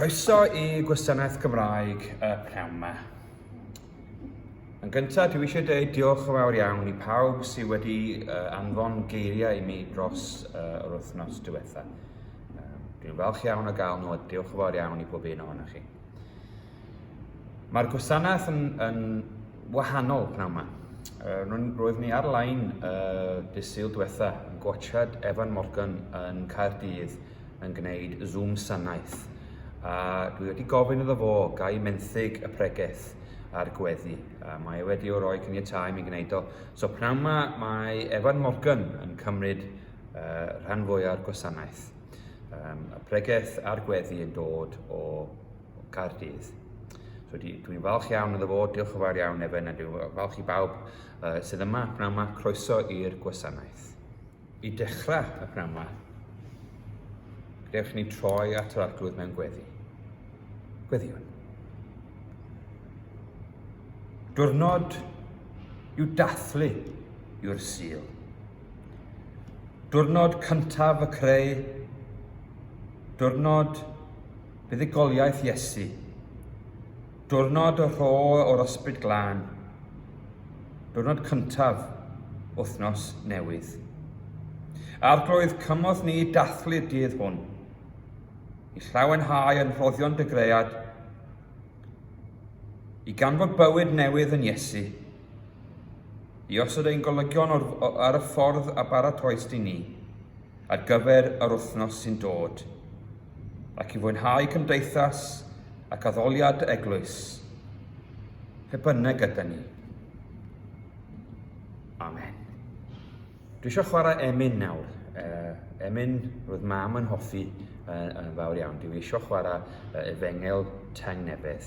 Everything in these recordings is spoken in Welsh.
Croeso i Gwasanaeth Gymraeg y pnawn 'ma. Yn gyntaf, dwi eisiau dweud diolch yn fawr iawn i pawb sydd wedi uh, anfon geiriau i mi dros uh, yr wythnos diwetha. Um, dwi'n falch iawn o gael nhw a diolch yn fawr iawn i bob un ohonoch chi. Mae'r gwasanaeth yn, yn wahanol pnawn yma. Uh, roedd ni ar-lein uh, dydd Sul diwetha yn gwachad Evan Morgan yn Caerdydd yn gwneud Zoom sanaeth, a dwi wedi gofyn iddo fo gai menthyg y pregeth a'r gweddi. A mae e wedi o roi cyniatau mi gwneud o. So pnawn yma mae Evan Morgan yn cymryd uh, rhan fwyaf gwasanaeth. Um, y pregeth a'r gweddi yn dod o, o Cardydd. So dwi'n falch iawn iddo fo, diolch yn fawr iawn Evan, a dwi'n falch i bawb uh, sydd yma pnawn yma, croeso i'r gwasanaeth. I dechrau y pnawn 'ma, gadewch i ni troi at yr arglwydd mewn gweddi. Gweddiwn. Diwrnod i'w dathlu yw'r sil. Diwrnod cyntaf y creu, diwrnod buddugoliaeth Iesu, Diwrnod y rho o'r ysbryd glân. Diwrnod cyntaf wythnos newydd. Arglwydd, cymorth ni i dathlu'r dydd hwn, i llawenhau yn rhoddion dy gread, i ganfod bywyd newydd yn Iesu, i osod ein golygion ar y ffordd a baratoes di ni. ar gyfer yr wythnos sy'n dod, ac i fwynhau cymdeithas ac addoliad eglwys, pe bynnag yda ni. Amen. Dwi eisiau chwarae emyn nawr. Uh, emyn, roedd mam yn hoffi uh, yn fawr iawn. Dwi eisiau chwarae uh, efengel teng nebydd.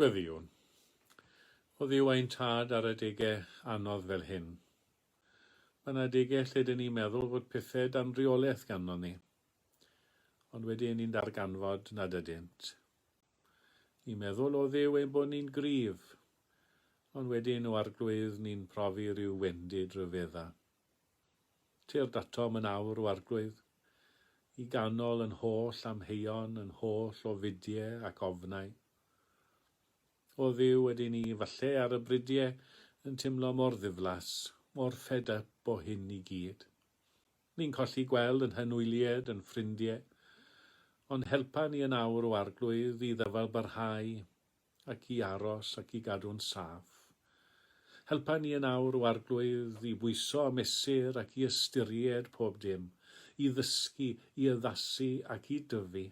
Gweddïwn. Oddi yw ein tad ar adegau anodd fel hyn. Mae yna adegau lle dyn ni'n meddwl fod pethau dan reolaeth ganddo ni, ond wedyn ni'n darganfod nad ydynt. Ni'n meddwl o Dduw ein bod ni'n gryf, ond wedyn o Arglwydd ni'n profi rhyw wendid ryfedda. Tir datom yn awr o Arglwydd, i ganol yn holl amheuon, yn holl o fudie ac ofnau. O Dduw ydy ni, falle ar y bridie yn timlo mor ddiflas, mor fed up o hyn i gyd. Ni'n colli gweld yn hyn wylied, yn ffrindie, ond helpa ni yn awr o Arglwydd i ddyfal barhau ac i aros ac i gadw'n saff. Helpa ni yn awr o Arglwydd i bwyso a mesur ac i ystyried pob dim, i ddysgu, i addasu ac i dyfu.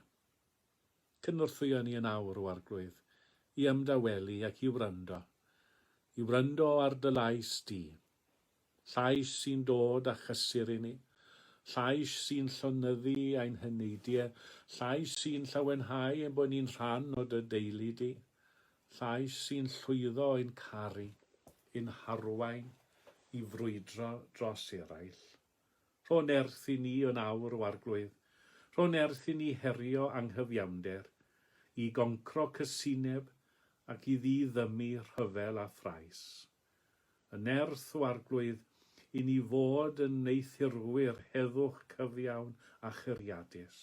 Cynorthwya ni yn awr o Arglwydd i ymdawelu ac i wrando, i wrando ar dy lais di. Llais sy'n dod â chysur i ni. Llais sy'n llonyddu ein heneidie. Llais sy'n llawenhau ein bod ni'n rhan o dy deulu di. Llais sy'n llwyddo i'n caru, i'n harwain i frwydro dros eraill. Rho nerth i ni yn awr o Arglwydd. Rho nerth i ni herio anghyfiawnder, i goncro cysineb ac i ddiddymu rhyfel a thrais. Y nerth o Arglwydd i ni fod yn wneuthurwyr heddwch cyfiawn a churiadus.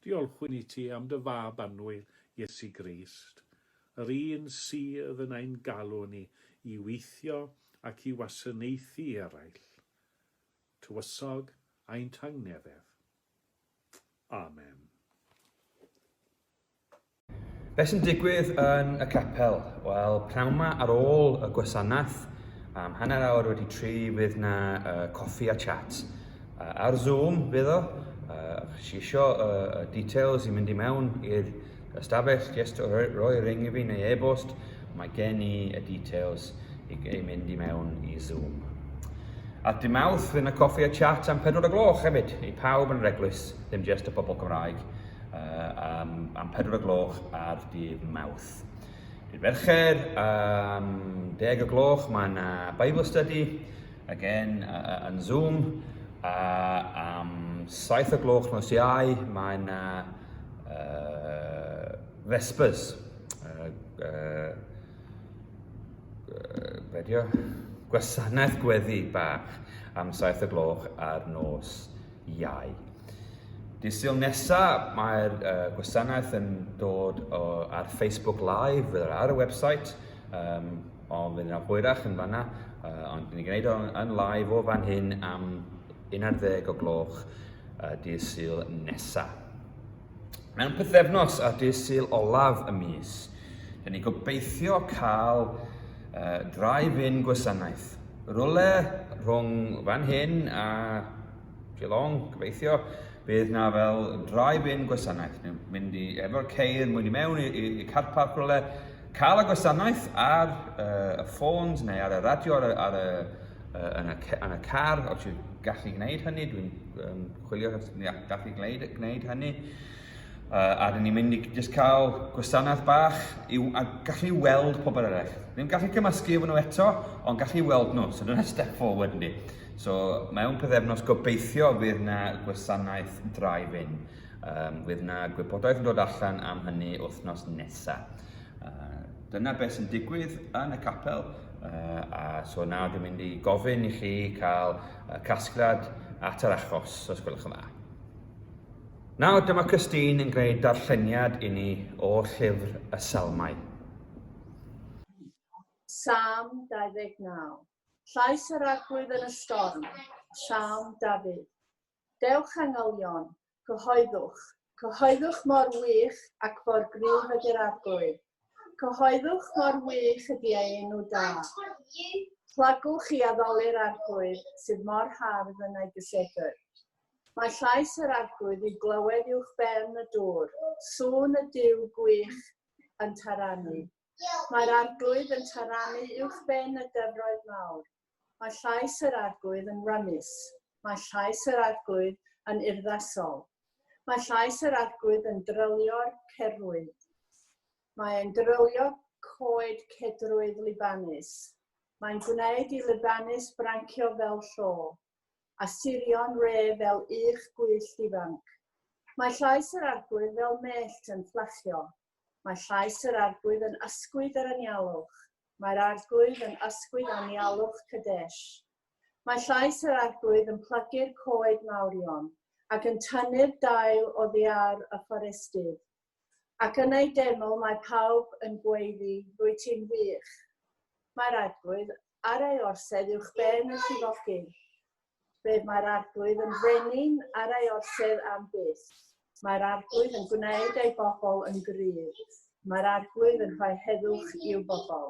Diolchwn i ti am dy Fab annwyl, Iesu Grist, yr un sydd yn ein galw ni i weithio ac i wasanaethu eraill. Tywysog ein tangnefedd. Amen. Beth sy'n digwydd yn y capel? Wel, pnawn yma ar ôl y gwasanaeth, am hanner awr wedi tri, fydd na uh, coffi a chat. Uh, ar Zoom fydd o, uh, chi eisiau uh, details i mynd i mewn i'r ystafell, just roi, roi ring i fi neu e-bost, mae gen i y details i, i mynd i mewn i Zoom. At dim awth, fydd na coffi a chat am 4 o gloch hefyd, i pawb yn yr eglwys, ddim just y pobl Cymraeg. um, am pedwar o gloch ar dydd mawth. Dydd fercher, um, deg o gloch, mae yna Bible Study, again, uh, yn Zoom, a am saith o gloch nos iau, mae yna uh, Vespers, uh, uh, uh, gwasanaeth gweddi bach am saith o gloch ar nos iau. Dysil nesa, mae'r uh, gwasanaeth yn dod o, ar Facebook Live, fydd ar y website, um, ond fydd yna hwyrach yn fanna, uh, ond ni'n gwneud o'n yn live o fan hyn am 11 o gloch uh, dydd syl nesa. Mewn pythefnos ar dydd syl olaf y mis, rydyn ni gobeithio cael uh, drive-in gwasanaeth. Rwle rhwng fan hyn a Geelong, gobeithio, bydd na fel drive-in gwasanaeth. Ni'n mynd i efo'r ceir mwyn i mewn i, i, i car park rwle, cael y gwasanaeth ar uh, y ffôns neu ar y radio ar y, ar y, uh, yn, y, yn y car, os yw'n gallu gwneud hynny, dwi'n um, chwilio os ni gall i gwneud, gwneud hynny. Uh, a dyn ni'n mynd i jyst cael gwasanaeth bach i, a gallu weld pobl eraill. Ddim gallu cymysgu efo nhw eto, ond gallu weld nhw. So dyna step forward ni. So mewn pethefnos gobeithio fydd na gwasanaeth drive-in. Um, fydd na gwybodaeth yn dod allan am hynny wythnos nesaf. Uh, dyna beth sy'n digwydd yn y capel. Uh, a so nawr dwi'n mynd i gofyn i chi cael y casgliad at yr achos, os gwelwch yn dda. Nawr, dyma Christine yn gwneud darlleniad i ni o llyfr y Salmau. Sam 29. Llais yr arglwydd yn y storm. Salm Dafydd. Dewch angylion, Cyhoeddwch. Cyhoeddwch mor wych ac mor gryf ydy'r Arglwydd. Cyhoeddwch mor wych ydy ei enw da. Plagwch i addoli'r Arglwydd sydd mor hardd yn ei gysedr. Mae llais yr Arglwydd i'w glywed uwch ben y dŵr, sŵn y Duw gwych yn taranu. Mae'r Arglwydd yn taranu uwch ben y dyfroedd mawr. Mae llais yr Arglwydd yn rymus. Mae llais yr Arglwydd yn urddasol. Mae llais yr Arglwydd yn drylio'r cerwyd. Mae e'n drylio coed cedrwydd Libanus. Mae'n gwneud i Libanus brancio fel llo, a sirion re fel uwch gwyllt ifanc. Mae llais yr Arglwydd fel mellt yn fflachio. Mae llais yr arglwydd yn ysgwyd yr anialwch. Mae'r arglwydd yn ysgwyd anialwch Kadesh. Mae llais yr arglwydd yn plygu'r coed mawrion, ac yn tynnu'r dail oddiar y fforestydd. Ac yn ei deml mae pawb yn gweiddi, Rwyt ti'n wych. Mae'r arglwydd ar ei orsedd uwch ben y llifogydd. Fe mae'r arglwydd yn frenin ar ei orsedd am byth. Mae'r arglwydd yn gwneud ei bobl yn gryf. Mae'r arglwydd yn rhoi heddwch i'w bobl.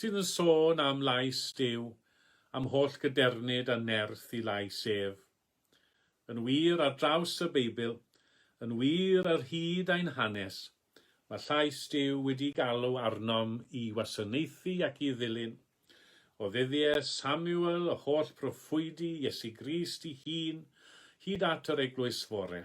sydd yn sôn am lais Duw, am holl gadernid a nerth i lais ef. Yn wir, ar draws y Beibl, yn wir ar hyd ein hanes, mae llais Duw wedi galw arnom i wasanaethu ac i ddilyn, o ddyddiau Samuel, y holl broffwydi, Iesu Grist ei hun, hyd at yr Eglwys Fore.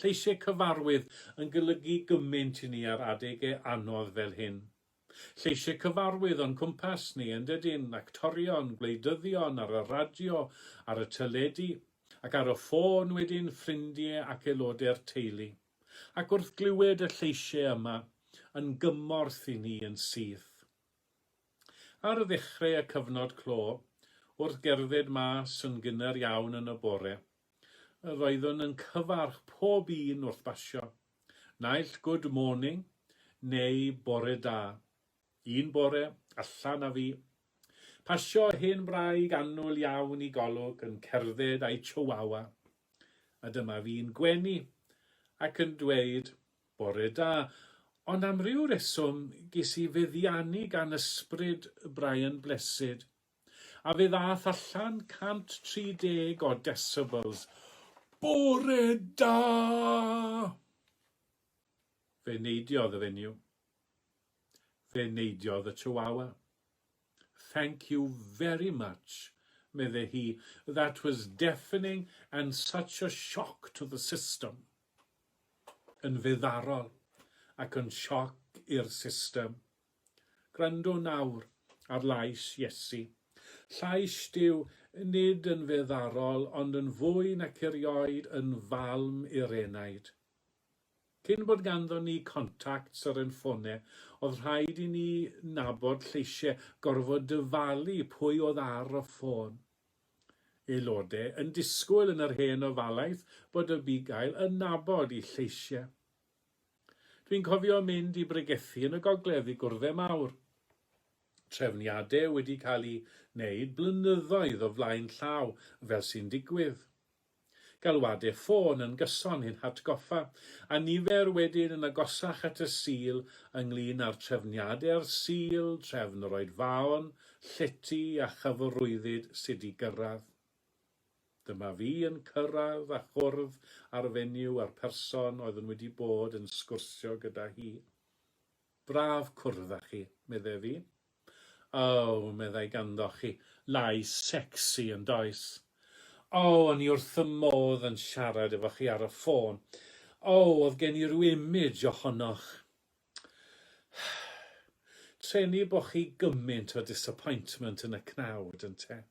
Lleisiau cyfarwydd yn golygu gymaint i ni ar adegau anodd fel hyn. Lleisiau cyfarwydd o'n cwmpas ni, yndydyn, actorion, gwleidyddion ar y radio, ar y teledu, ac ar y ffôn wedyn, ffrindie ac aelodau'r teulu. Ac wrth glywed y lleisiau yma, yn gymorth i ni yn syth. Ar ddechrau y cyfnod clo, wrth gerdded mas yn gynnar iawn yn y bore, Yr oeddwn yn cyfarch pob un wrth basio, naill good morning neu bore da. Un bore, allan a fi, pasio hen wraig annwyl iawn i Golwg yn cerdded a'i Chihuahua, a dyma fi'n gwenu ac yn dweud bore da, ond am ryw reswm ges i feddiannu gan ysbryd Brian Blessed, a fe ddaeth allan 130 o decibels Bore da! Fe neidiodd y fenyw. Fe neidiodd y chihuahua. Thank you very much, medde hi, that was deafening and such a shock to the system. Yn feddarol ac yn sioc i'r system. Gwrando nawr ar lais Iesu. Llais Duw, nid yn feddarol, ond yn fwy nac erioed yn falm i'r enaid. Cyn bod ganddo ni contacts ar ein ffone, oedd rhaid i ni nabod lleisiau, gorfod dyfalu pwy oedd ar y ffôn. Aelodau yn disgwyl yn yr hen ofalaeth bod y bugail yn nabod i lleisiau. Dwi'n cofio mynd i bregethu yn y gogledd i gwrddau mawr. Trefniadau wedi cael eu wneud blynyddoedd o flaen llaw fel sy'n digwydd. Galwadau ffôn yn gyson i'n hatgoffa, a nifer wedyn yn agosach at y Sul ynglŷn â'r trefniadau a'r Sul, trefn yr oedfaon, llety a chyfarwyddyd sut i gyrraedd. Dyma fi yn cyrraedd a chwrdd â'r fenyw a'r person oeddwn wedi bod yn sgwrsio gyda hi. Braf cwrdd â chi, meddai fi. O, meddai ganddoch chi lais secsi, yn does? O, o'n i wrth fy modd yn siarad efo chi ar y ffôn. O, oedd gen i ryw image ohonoch. Treni bo chi gymaint o disappointment yn y cnawd, ynte?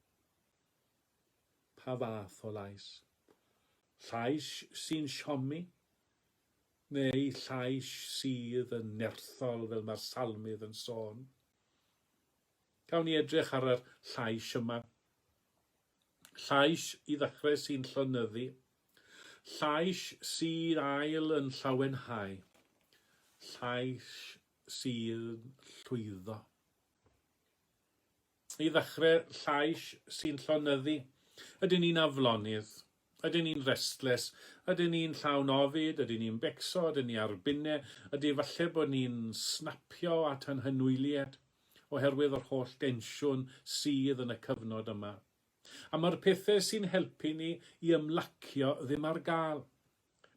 Pa fath o lais? Llais sy'n siomi? Neu llais sydd yn nerthol fel mae'r salmydd yn sôn? Cawn ni edrych ar yr llais yma. Llais, i ddechrau, sy'n llonyddu. Llais sy'n ail yn llawenhau. Llais sy'n llwyddo. I ddechrau, llais sy'n llonyddu. Ydyn ni'n aflonydd? Ydyn ni'n restless? Ydyn ni'n llawn ofid? Ydyn ni'n becso? Ydyn ni ar binne? Ydy falle bod ni'n snapio at anghynwyliad oherwydd yr holl densiwn sydd yn y cyfnod yma? A mae'r pethau sy'n helpu ni i ymlacio ddim ar gael.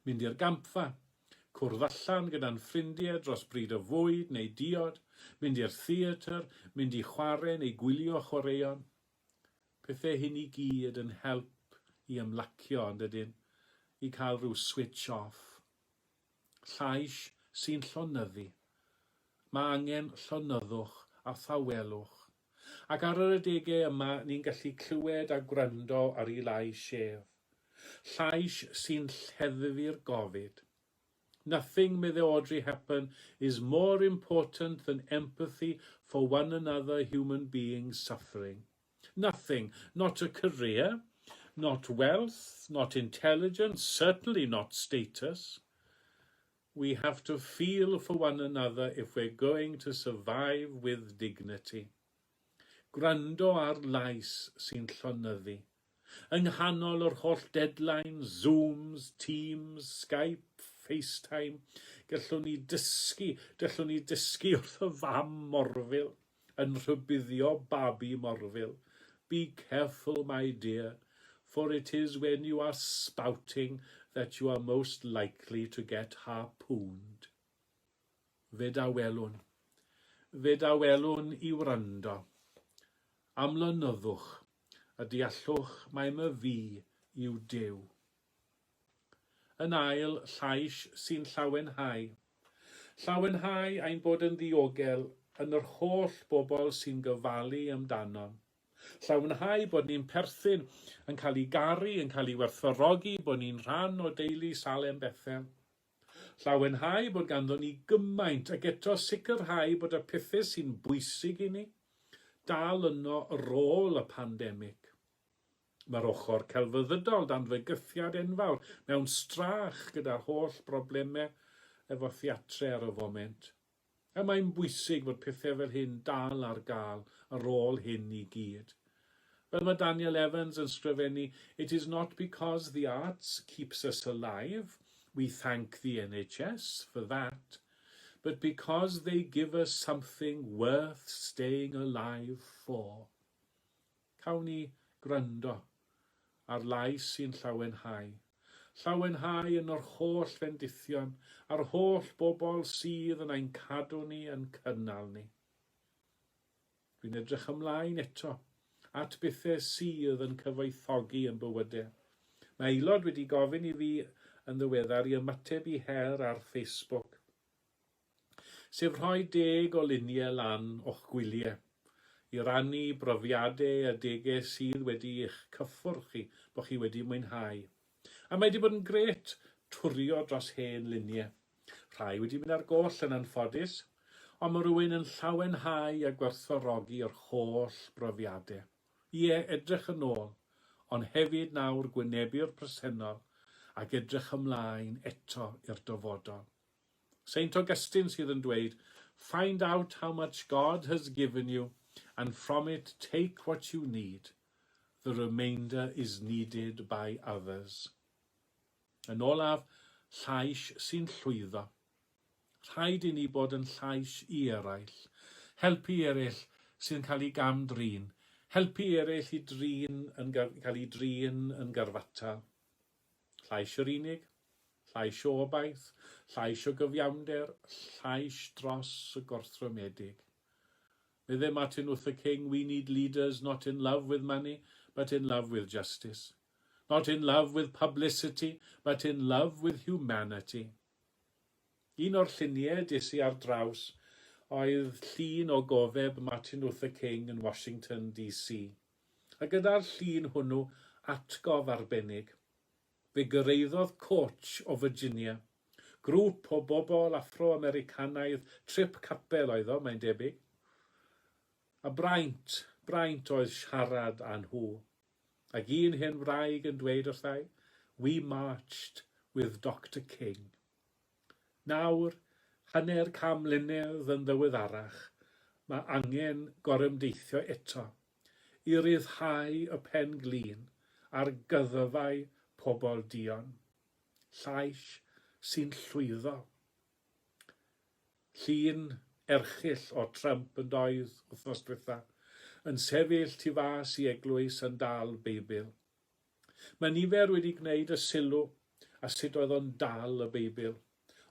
Mynd i'r gampfa. Cwrdd allan gyda'n ffrindie dros bryd o fwyd neu diod, mynd i'r theatr, mynd i chware neu gwylio chwaraeon. Pethe hyn i gyd yn help i ymlacio, yn dydyn? I cael rhyw switch off. Llais sy'n llonyddu. Mae angen llonyddwch a thawelwch. Ac ar yr adegau yma ni'n gallu clywed a gwrando ar ei lais ef. Llais sy'n lleddfu'r gofid. Nothing, medde Audrey Hepburn, is more important than empathy for one another human being suffering. Nothing, not a career, not wealth, not intelligence, certainly not status. We have to feel for one another if we're going to survive with dignity. Gwrando ar lais sy'n llonyddu. Yng nghanol yr holl deadlines, Zooms, Teams, Skype, FaceTime, gellwn ni dysgu, dellwn ni dysgu wrth y fam morfil. yn rhybuddio babi morfil, Be careful my dear, for it is when you are spouting that you are most likely to get harpooned. Fyd a welwn. Fyd a welwn i wrando. Amlonyddwch, a deallwch mai my fi yw Duw. Yn ail, llais sy'n llawenhau. Llawenhau ein bod yn ddiogel yn yr holl bobl sy'n gofalu amdano. Llawenhau bod ni'n perthyn, yn cael ei garu, yn cael ei werthfawrogi, bod ni'n rhan o deulu Salem Bethel. Llawenhau bod ganddon ni gymaint, ac eto sicrhau bod y pethau sy'n bwysig i ni dal yno ar ôl y pandemig. Mae'r ochr celfyddydol dan fygythiad enfawr mewn strach gyda'r holl broblemau efo theatre ar y foment. A mae'n bwysig fod pethau fel hyn dal ar gael ar ôl hyn i gyd. Fel mae Daniel Evans yn sgrifennu, It is not because the arts keeps us alive, we thank the NHS for that, but because they give us something worth staying alive for. Cawn ni gwrando ar lais sy'n llawenhau, llawenhau yn yr holl fendithion a'r holl bobl sydd yn ein cadw ni, yn cynnal ni. Dwi'n edrych ymlaen eto at bethau sydd yn cyfoethogi yn bywyde. Mae aelod wedi gofyn i fi yn ddiweddar i ymateb i her ar Facebook. sef rhoi deg o luniau lan o'ch gwyliau i rannu brofiade a dege sydd wedi eich cyffwrdd chi, bo chi wedi mwynhau. A mae 'di bod yn grêt twrio dros hen luniau. Rhai wedi mynd ar goll yn anffodus, ond ma rywun yn llawenhau a gwerthfawrogi yr holl brofiade. Ie, edrych yn ôl, ond hefyd nawr gwynebu'r presennol ac edrych ymlaen eto i'r dyfodol. Saint Augustine sydd yn dweud Find out how much God has given you and from it take what you need, the remainder is needed by others. Yn olaf, llais sy'n llwyddo. Rhaid i ni bod yn llais i eraill, helpu eraill sy'n cael ei gam-drin, helpu eraill i drin yn cael ei drin yn garfatal. Llais yr unig, llais o obaith, llais o gyfiawnder, llais dros y gorthrymedig. Medde Martin Luther King, We need leaders not in love with money, but in love with justice. Not in love with publicity, but in love with humanity. Un o'r lluniau des i ar draws oedd llun o gofeb Martin Luther King yn Washington DC. A gyda'r llun hwnnw atgof arbennig, fe gyrraeddodd Coach o Virginia, grŵp o bobl Affro-Americanaidd, trip capel oedd o, mae'n debyg, a braint, braint oedd siarad â nhw, ac un hen wraig yn dweud wrthai, We marched with Doctor King. Nawr, hanner can mlynedd yn ddiweddarach, mae angen gorymdeithio eto i ryddhau y pen glin ar gyddfau pobl duon, llais sy'n llwyddo. Llun erchyll o Trump yn doedd wythnos dwytha, yn sefyll tu fas i eglwys yn dal Beibl. Mae nifer wedi gwneud y sylw a sut oedd o'n dal y Beibl.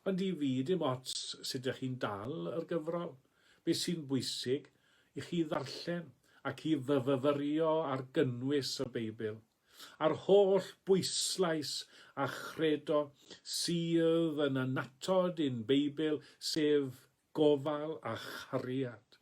Ond i fi, dim ots sut ych chi'n dal yr gyfrol, be sy'n bwysig i chi ddarllen ac i fyfyfyrio ar gynnwys y Beibl, a'r holl bwyslais a chredo sydd yn annatod i'n Beibl, sef gofal a chariad.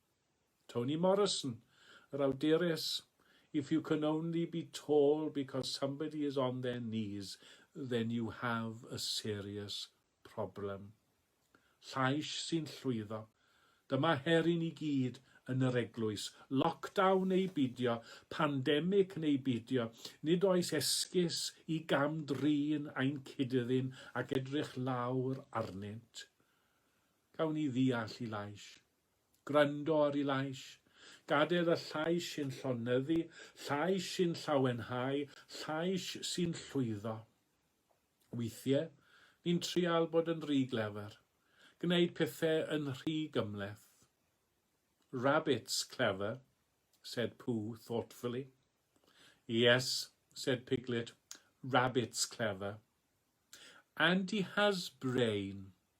Toni Morrison, yr awdures, If you can only be tall because somebody is on their knees, then you have a serious problem. Llais sy'n llwyddo. Dyma her i ni gyd yn yr eglwys. Lockdown neu beidio, pandemic neu beidio, nid oes esgus i gam-drin ein cyd-ddyn ac edrych lawr arnynt. Gawn ni ddeall i lais. Gwrando ar ei lais. Gadael y llais sy'n llonyddu, llais sy'n llawenhau, llais sy'n llwyddo. Weithiau, ni'n trial bod yn rhy glefer. Gwneud pethau yn rhy gymhleth. Rabbits clever, said Pooh thoughtfully. Yes, said Piglet, rabbits clever. And he has brain,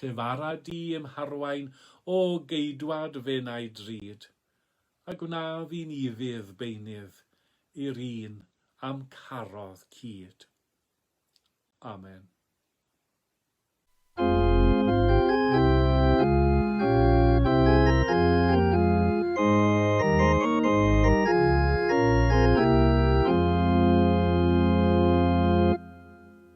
Lle fara di i'm harwain, O geidwad fy nau drud, A gwna fi'n ufudd beunydd I'r un a'm carodd cyd. Amen.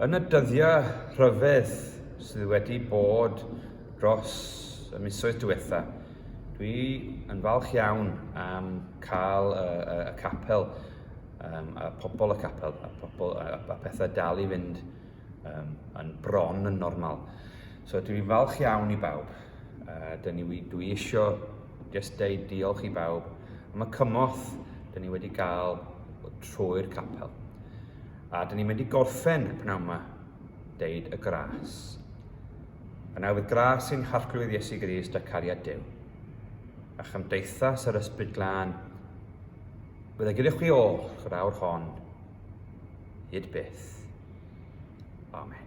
Yn y dyddiau rhyfedd sydd wedi bod dros y misoedd diwetha, dwi yn falch iawn am cael y, y, y capel, um, a pobl y capel, a, pobl, a, a pethau dal i fynd um, yn bron yn normal. So dwi'n falch iawn i bawb. Uh, dyn ni, dwi eisiau jyst deud diolch i bawb am y cymorth dyn ni wedi gael trwy'r capel. A dyn ni'n mynd i gorffen pnawn yma, deud y gras. Y newydd gras sy'n harglwydd Iesu Grist a cariad Dyw. A chymdeithas yr ysbryd glân, bydd y gyda chwi ôl yr awr hon, hyd byth. Amen.